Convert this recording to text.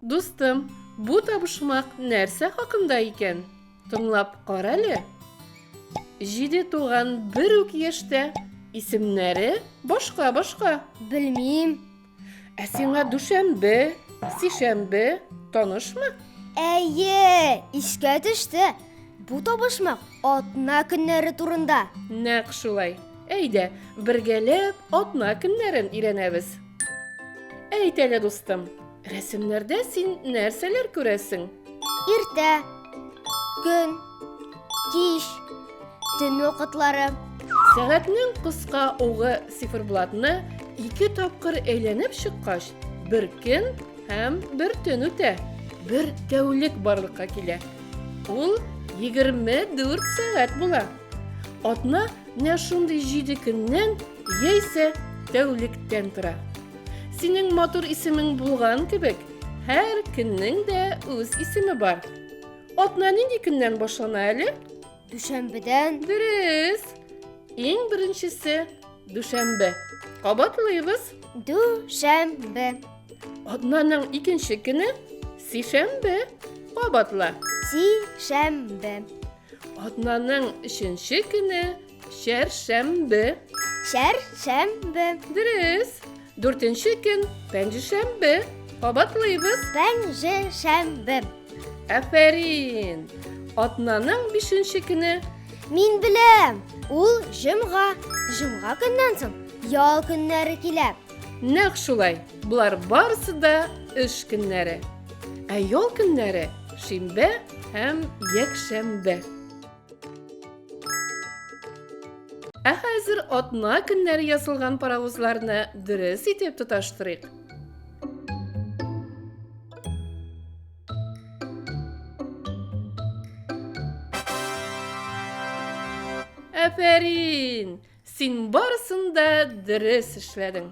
Дустым, бу табышмак нәрсә хакында икән? Тыңлап карале. Җиде туган бер үк яшьтә, исемнәре башка-башка. Белмим. Ә сиңа дүшәмбе, сишәмбе танышмы? Әйе, искә төште. Бу табышмак атна көннәре турында. Нәкъ шулай. Әйдә, бергәләп атна көннәрен өйрәнәбез. Әйт әле, дустым, рәсемнәрдә син нәрсәләр күрәсең? Иртә, көн, Кич, төн вакытлары. Сәгатьнең кыска угы циферблатны ике тапкыр әйләнеп чыккач, бер көн һәм бер төн үтә. Бер тәүлек барлыкка килә. Ул 24 сәгать була. Атна менә шундый 7 көннән яисә тәүлектән тора. Синең матур исемең булган кебек, һәр көннең дә үз исеме бар. Атна нинди көннән башлана әле? Дүшәмбедән. Дөрес. Иң беренчесе дүшәмбе. Кабатлыйбыз. Дүшәмбе. Атнаның икенче көне сишәмбе. Кабатла. Сишәмбе. Атнаның өченче көне Чәршәмбе. Чәршәмбе. Дөрес. Дүртенче көн пәнҗешәмбе. Кабатлыйбыз. Пәнҗешәмбе. Афәрин. Атнаның бишенче көне. Мин беләм. Ул җомга. Җомга көннән соң ял көннәре килә. Нәкъ шулай. Болар барысы да эш көннәре. Ә ял көннәре шимбә һәм якшәмбе. Ә хәзер атна көннәре ясалган паровозларны дөрес итеп тоташтырыйк. Афәрин! Син барысын да дөрес эшләдең.